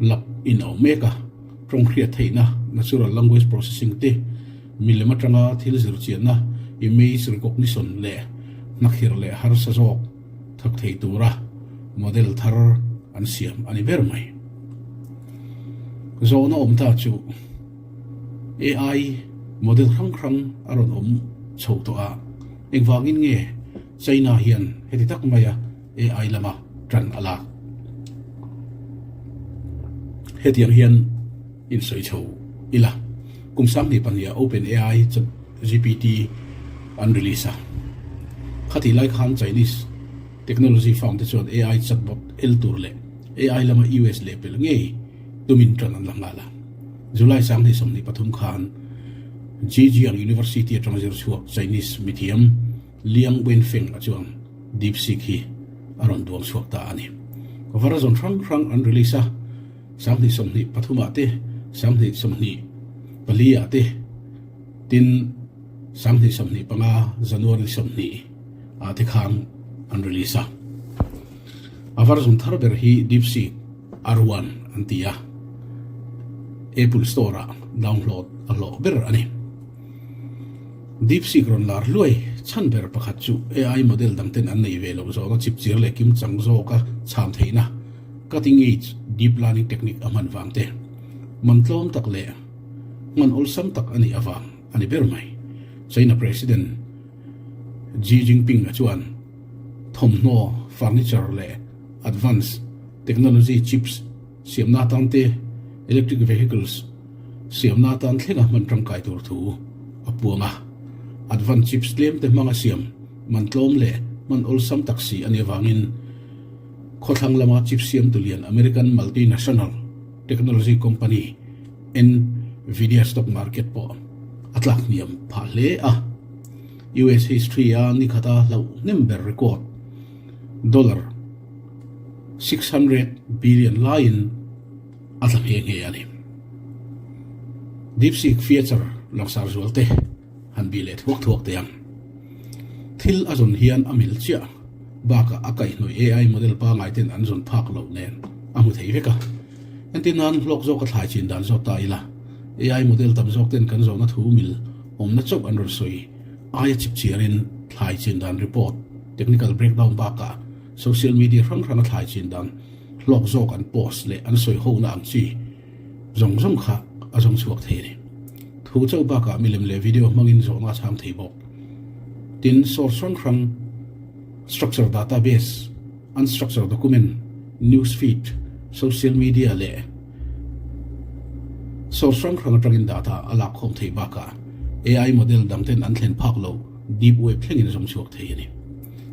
lak inawm mek a, tawngkhriat theihna, natural language processing, te, milem atanga thil zirchianna, image recognition, leh hnakhir leh harsa zawk thak thei tura model thar an siam a ni ber mai. Zawn a awm ta chu AI model hrang hrang a rawn awm chho tawh a, engvangin nge China hian heti tak maia ai lama tan a lak. Hetiang hian insawi chho ila, kum Sanghnih pahniha Open ai Chat GPT an release a. Khati lai khan Chinese technology firm te chuan ai chatbot el tur leh ai lama US leh pel ngei tumin tan an la nghal a. July Sanghnih sawmhnih pathum khan Zhejiang University atang zirchhuak Chinese mithiam, Liang Wenfeng-a chuan DeepSeek hi a rawn duang chhuak ta a ni. Version hrang hrang an release a, sanghnih sawmhnih pathumah te, sanghnih sawmhnih paliah te, tin, sanghnih sawmhnih panga, January sawmhnih, ah te khan an release a. A version thar ber hi DeepSeek R1 an ti a, Apple Store-ah download a hlawh ber a ni. DeepSeek rawn lar hluai chhan ber pakhat chu ai model dang ten an nei ve loh zawng a chip chir leh kim chang zawka chham theihna, cutting edge deep learning technique, a hman vang te. Hman tlawm tak leh hman awlsam tak a nih avang a ni ber mai. China President Xi Jinping a chuan thawmhnaw, furniture leh advanced technology chips, Siamna atan te, Electric Vehicles, siamna atan thleng a hman tangkai tur thu a puang a, Advanced Chips tlem te hmanga siam man tlawm leh hman awlsam tak si a nih avangin khawthlang lama chip siamtu lian American Multinational Technology Company Nvidia stock market pawh a tlak hniam phah hle a. US history-a nikhata hlauh hnem ber record dollar six hundred billion laiin a tla nghe nghe a ni. Deepseek feature langsar zual te han bih leh thuak thuak teh ang. Thil a zawn hian a mil chiah bakah a kaihhnawih AI model pangai ten an zawn phak loh nen a hmu thei vek a. Entir nan hlawk zawk a thlai chin dan zawk ta ila, AI model tam zawk ten kan zawhna thu mil awmna chauh an rawn sawi. Aia chipchiarin thlai chin dan report, technical breakdown bakah social media hrang hranga thlai chin dan hlawk zawk an post leh an sawi hona ang chi zawng zawng kha a zawng chhuak thei a ni. Thu chauh bakah milem leh video hmangin zawhna a chhang thei bawk. Tin, source hrang hrang, structure database, unstructure document, newsfeed, social media leh Saw hrang hrang atangin dah ta a lak khawm thei bakah AI model dangten an thlen phak loh deep web thlengin a zawng chhuak thei a ni.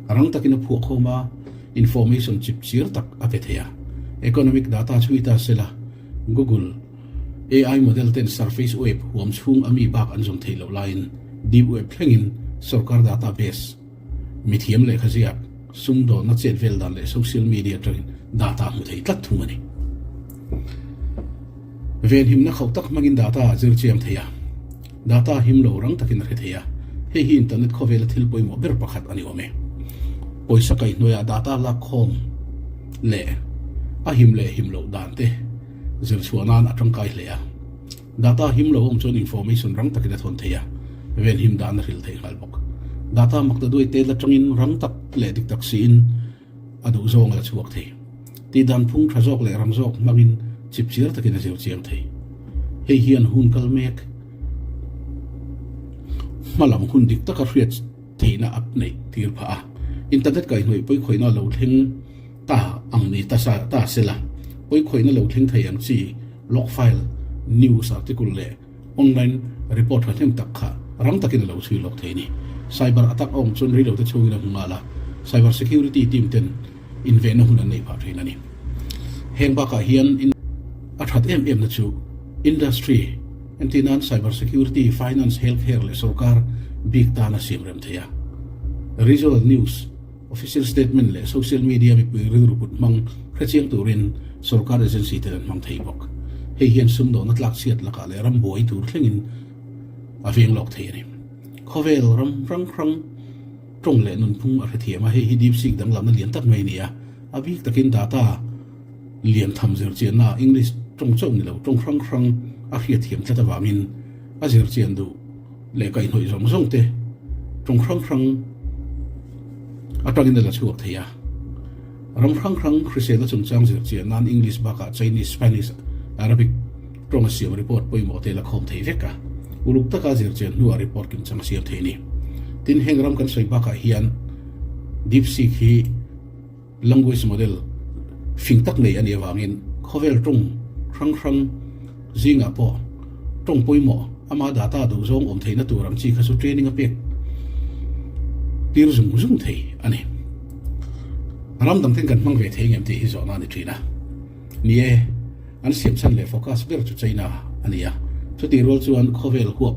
Rang takin a phuah khawm a, information chip chir tak a pe thei a. Economic data chhui ta sela Google, AI model ten surface web huam chhung ami bak an zawng thei loh laiin deep web thlengin sorkar data base, Mithiam lehkha ziak, sumdawlna chetvel dan leh social media atangin data hmu thei tlat thung a ni. Venhimna khauh tak hmangin data a zir chiang thei a, data him lo rang takin a hre thei a, hei hi internet khawvela thil pawimawh ber pakhat a ni awm e. Pawisa kaih hnuaiah data lak khawm leh a him leh him loh dante zirchhuah nan a tangkai hle a. Data him lo awm chuan information rang takin a thawn thei a, ven him dahna hril thei nghal bawk. Data makna duaite la tangin rang tak leh dik tak siin a duh zawng a la chhuak thei. Tih dan phung tha zawk leh rang zawk hmangin chip chiar takin a zir chiang thei. Hei hian hun kal mek hma lam hun dik taka hriat theihna a neih tir phah a, internet kaihhnawih pawikhawihnaa lo thleng. Ta ang ni ta sa ta sela puikhawihna lo thleng thei ang chi log file, news article leh online report thlahnem tak kha rang takin a lo chhui lawk thei ni. Cyber attack awm chuan rei lote chhungin a hmu nghal a, cyber security team ten invenna hun an nei phah thin a ni. Heng bakah hian a that em emna chu industry entir nan cyber security, finance, healthcare leh sorkar bik tana siam rem thei a. Rizal news. Official statement leh social media mipui rilru kut hmang hre chiang turin sorkar agency ten an hmang thei bawk. Hei hian sumdawhna tlakchhiat lakah leh ram buai tur thlengin a veng lawk thei a ni. Khawvel ram hrang hrang tawng leh nunphung a hrethiam a, hei hi DeepSeek danglamna lian tak mai a ni a, a bik takin data lian tham zirchianna English tawng chauh ni lo tawng hrang hrang a hriatthiam tlat avangin a zirchian duh leh kaihnawih zawng zawng te tawng hrang hrang atangin a la chhuak thei a, ram hrang hrang hrisela chungchang zir chiah nan English bakah Chinese, Spanish, Arabic tawnga siam report pawimawh te la khawm thei vek a, uluk taka zir chian hnuah report kim chang a siam thei a ni. Tin heng ram kan sawi bakah hian Deepseek hi. Language model fing tak nei a nih avangin khawvel tawng hrang hrang zingah pawh tawng pawimawh ama data duh zawng awm theihna tur ang chi kha chu training a pek tir zung zung thei a ni. Ram dangten kan hmang ve thei ngem tih hi zawhna a ni thin a ni e, an siamchhan leh focus ber chu China a ni a, chutih rual chuan khawvel huap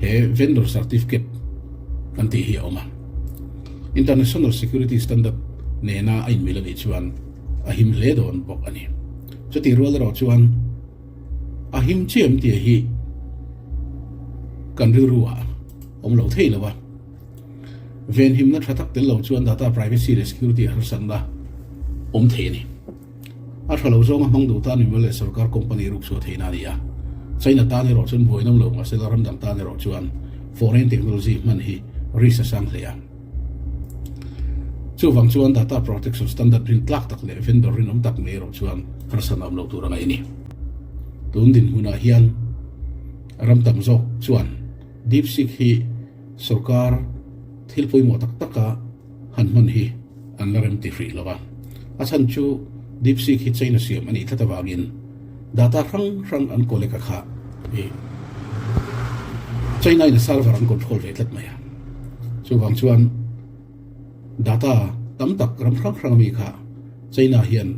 He vendor certificate kan tih hi a awm a, International Security Standard nena a inmil a nih chuan a him hle dawn bawk a ni. Chutih rual erawh chuan a him chiah em tih hi kan rilru ah awm lo thei lo a, venhimna tha tak tel lo chuan data privacy leh security harsatna awm thei a ni. A tha lo zawnga hmang duh tan mimal leh sorkar company rukchhuah theihna a ni a. China tan erawh chuan buainawm lo mahse la ramdang tan erawh chuan foreign technology hman hi risk a sang hle a. Chuvang chuan data protection standard rin tlak tak leh vendor rinawm tak mai erawh chuan harsatna awm lo tur a ngaih a ni. Tun dinhmunah hian ram tam zawk chuan DeepSeek hi sorkar thil pawimawh tak taka, Han hmun hi an la rem ti hrih lo a. A chhan chu DeepSeek hi China siam a nih tlat avangin data hrang hrang an collect a kha hi China in a server an control ve tlat mai a. Chuvang chuan data tam tak ram hrang hrang ami kha China hian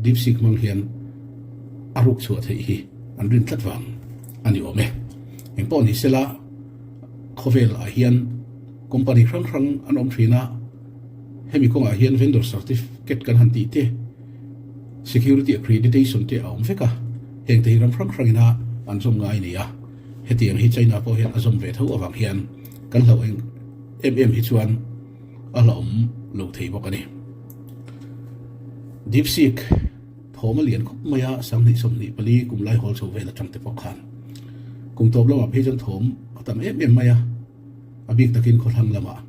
DeepSeek hmang hian a ruk chhuah theih hi an rin tlat vang a ni awm e. Engpawh ni sela khawvel ah hian, Company hrang hrang an awm thin a, hemi kawngah hian vendor certificate kan han tih te, security accreditation te a awm vek a, heng te hi ram hrang hrangin a an zawm ngai nia, hetiang hi China pawh hian a zawm ve tho avang hian kan hlauh eng em em hi chuan a hlauhawm lo thei bawk a ni. Deepseek thawm a lian khawp mai a, sang hnih sawmhnih pali kum lai hawl chho vel atang te pawh khan kum tawp lamah phei chuan thawm a tam em em mai a, A bik takin khawhlang lamah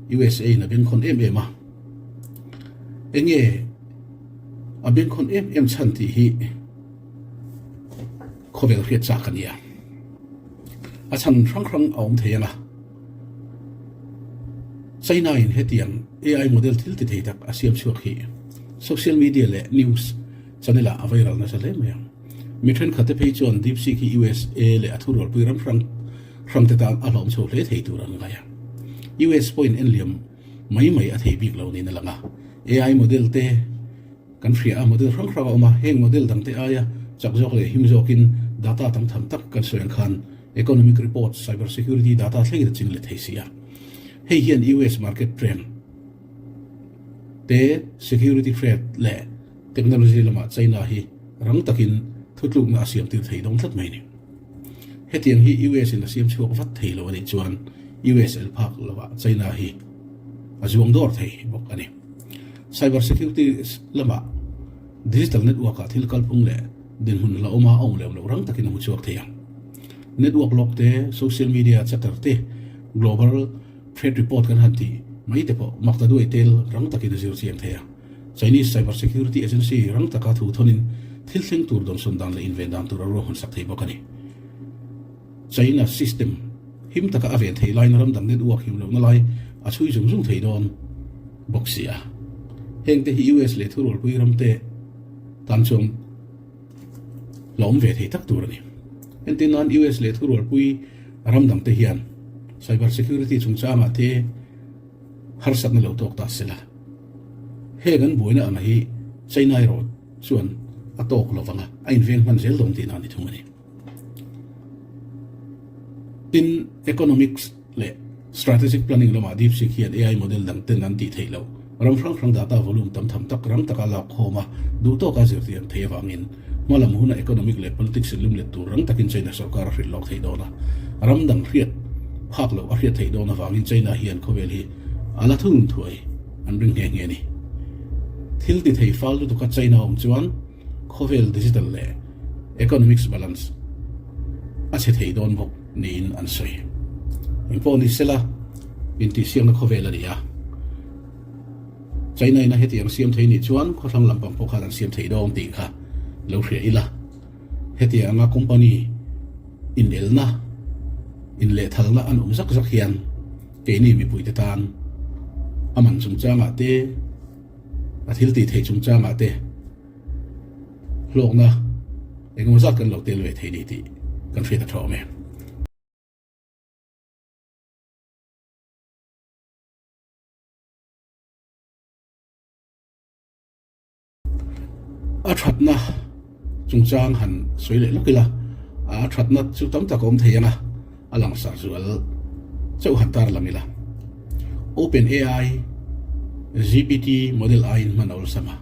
usa in a bengkhawn em em a. Enge a bengkhawn em em chhan tih hi khawvel hriat chak a nia. A chhan hrang hrang a awm thei anga China in hetiang ai model thil ti thei tak a siam chhuak hi social media leh news channel ah a viral nasa hle mai a. Mi thenkhat te phei chuan DeepSeek hi usa leh a thurualpui ram hrang Hramte tan a hlawm chho hle thei tur an ngaih a. US pawhin en liam mai mai a thei bik lo niin a lang a. AI model te kan hria a, model hrang hrang a awm a, heng model dangte aia chak zawk leh him zawkin data tam tham tak kan sawi ang khan economic report, cyber security data thleng in a ching let thei si a. Hei hian US market trend te, security threat leh technology lamah China hi rang takin thutlukna a siam tir thei dawn tlat mai a ni. Hetiang hi US in a siam chhuak vat thei lo a nih chuan US en phak lo ah China hi a zuang dawr thei bawk a ni. Cyber security lamah digital network ah thil kalphung leh dinhmun hla awm a a awm lem loh rang takin a hmu chhuak thei a. Network lock te, social media chatter te, global threat report kan han tih mai te pawh Maktaduai tel rang takin a zir chiang thei a. Chinese Cyber Security Agency rang taka thu thonin thil thleng tur dawnsawn dan leh inven dan tur a ruahman sak thei bawk a ni. China system him taka a ven thei lain ram dang nen uak hiu lohna lai a chhui zung zung thei dawn bawk si a. Heng te hi US leh thurualpui ram te tan chuang la awm ve thei tak tur a ni. Entir nan US leh thurualpui ram dang te hian cyber security chungchangah te, harsatna lo tawk ta sela. Heng an buaina ang hi China erawh chuan a tawk lo vanga a inveng hman zel dawn tihna a ni thung a ni. Tin, economics leh strategic planning lamah DeepSeek hian AI model dang ten an tih theih loh, ram hrang hrang data volume tam tham tak ram taka lakkhawma duhtawka zirtir thei avangin, Hma lam huna economic leh politics in limlet tur rang takin China sorkar a hrilh lawk theih dawn a, ram dang hriat phak loh a hriat theih dawn avangin China hian khawvel hi a la thun thuai an ring nghe nghe a ni. Thil ti thei fal lutuka China a awm chuan khawvel digital leh economics balance a chhe thei dawn bawk niin an sawi. Engpawh ni sela intihsiakna khawvel a ni a. China ina heti an siam thei nih chuan khawthlang lampang pawh khan an siam thei dawn tih kha lo hria ila. Hetiang anga company inelna, inlehthalna a nuam zak zak hian keini mipuite tan a man chungchangah te, a thil tih theih chungchangah te hlawkna engemaw zat kan lo tel ve thei ni tih kan hria ta thawm e. A thatna chungchang han sawi leh lawk ila, a thatna chu tam tak a awm thei anga, a langsar zual chauh han tarlang ila. OpenAI, GPT model aiin hman awlsam a.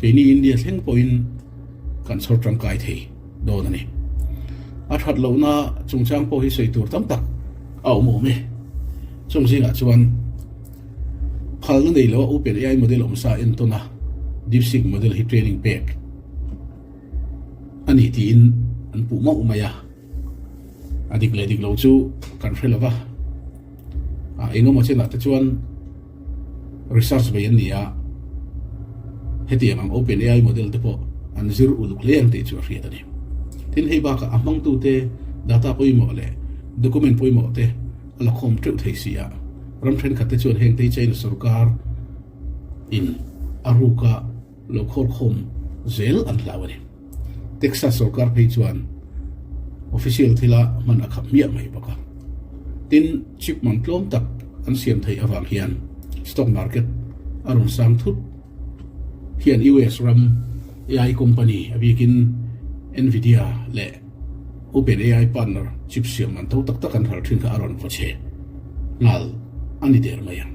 Keini India thleng pawhin kan chhawr tangkai thei dawn a ni. A that lohna chungchang pawh hi sawi tur tam tak a awm awm e. Chung zingah chuan phalna nei loh a Open AI model awm sa en tawn a DeepSeek model hi training pek a ni tiin an puh mauh mai a. A dik leh dik lo chu kan hre lo va. A engemaw chenah te chuan Research vei an ni a, hetiang ang OpenAI model te pawh an zir uluk hle ang tih chu a hriat a ni. Tin, hei bakah a hmangtute data pawimawh leh document pawimawh te a lakhawm teuh thei si a, ram thenkhat te chuan hengtei China sorkar in a ruka lo khawrkhawm zel an hlau a ni. Texas sorkar phei chuan official thila hman a khap hmiah mai bawk a, tin chip mam tlawm tak an siam theih avang hian stock market a rawn sang thut. Khian US ram AI company a bikin Nvidia leh OpenAI partner chip siam man tho tak tak an har thin kha a rawn vawchhe nghal a ni der mai ang.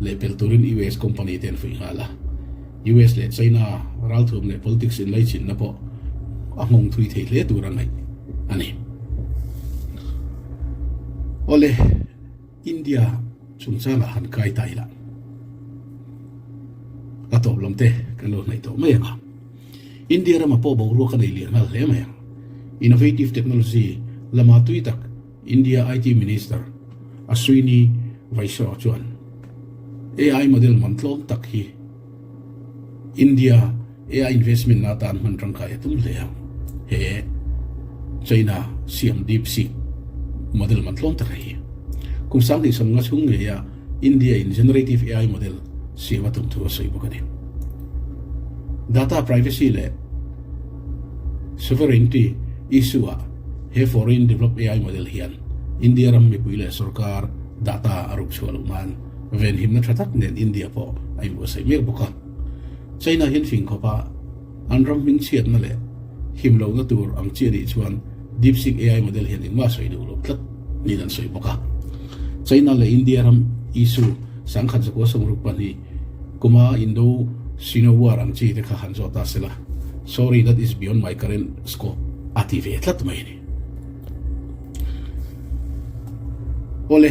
Lehpel turin US company te an fuih nghal a, US leh China ralthuam leh politics inleichhinna pawh a nghawng thui thei hle tur a ngaih a ni. Awle, India chungchangah han kai ta ila, a tawplawm te kan lo hnaih tawh mai ang a. India rama pawh boruak a nei leh nghal hle mai ang. Innovative technology lama tui tak. India IT Minister Ashwini Vaishnaw chuan AI model man tlawm tak hi India AI investment ah tan hman tangkai a tum hle a. He China siam DeepSeek model man tlawm taka hi kum sang tih sawmnga chhung ngeiah, India-in Generative AI model siam a tum thu a sawi bawk a ni. Data privacy leh sovereignty issue-ah he foreign developed AI model hian India ram mipui leh sorkar data a ruk chhuah loh nan venhimna tha tak nen India pawh a inbuatsaih mek bawk a. China hian fingkhawpa, An ram hming chhiatna leh him lohna tur ang chi a nih chuan DeepSeek AI model hian engmah sawi duh loh tlat niin an sawi bawk a. China leh India ram issue sangkhat zakua sawmruk pahnih kuma Indo-Sino War ang chi te kha han zawt ta se la, sorry that is beyond my current scope a ti ve tlat mai a ni. Awle.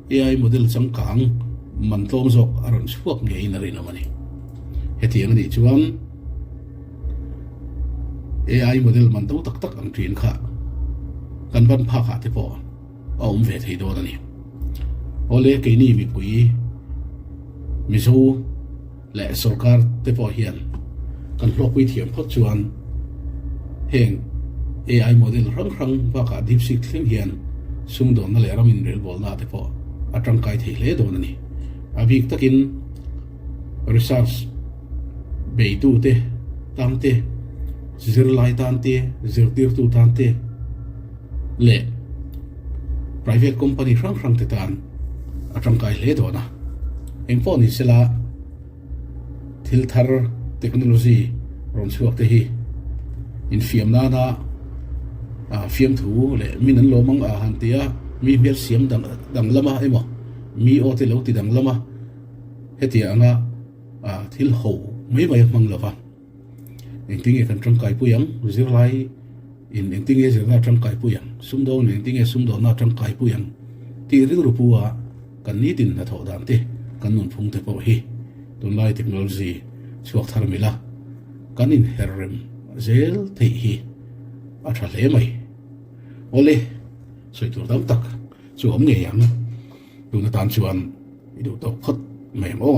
AI model changkang man tlawm zawk a rawn chhuak ngeiin a rinawm a ni. Hetiang a nih chuan AI model man to tak tak ang ṭin kha kan van phakah te pawh a awm ve thei dawn a ni. Awle keini mipui Mizo. leh sorkar te pawh hian kan hluakpui thiam phawt chuan heng AI model hrang hrang bakah DeepSeek thleng hian sumdawnna leh ram inrelbawlnaah te pawh a tangkai thei hle dawn a ni. A bik takin research beitu te tante, zirlai tante, zirtirtu tante, leh private company hrang hrang te tan a tangkai hle dawn a, eng pawh ni sela thil thar technology rawn chhuak te hi infiam nana fiamthu leh min an lawm ang a han ti a, mi hmel siam dang lama emaw mi aw te lo ti dang lama hetia anga thil ho mai mai a hmang lova. Engtin nge kan tangkaipui ang? Zirlaiin engtin nge zirna a tangkaipui ang? Sumdawngin engtin nge sumdawna a tangkaipui ang? Tih rilru pua kan nitin hnathawh dan te kan nunphung te pawh hi tunlai technology chhuak thar mil a kan inher rem zel theih hi a tha hle mai. Awle sawi tur tam tak chu awm ngei ang. Tun atan chuan i duh tawk phawt mai ang aw.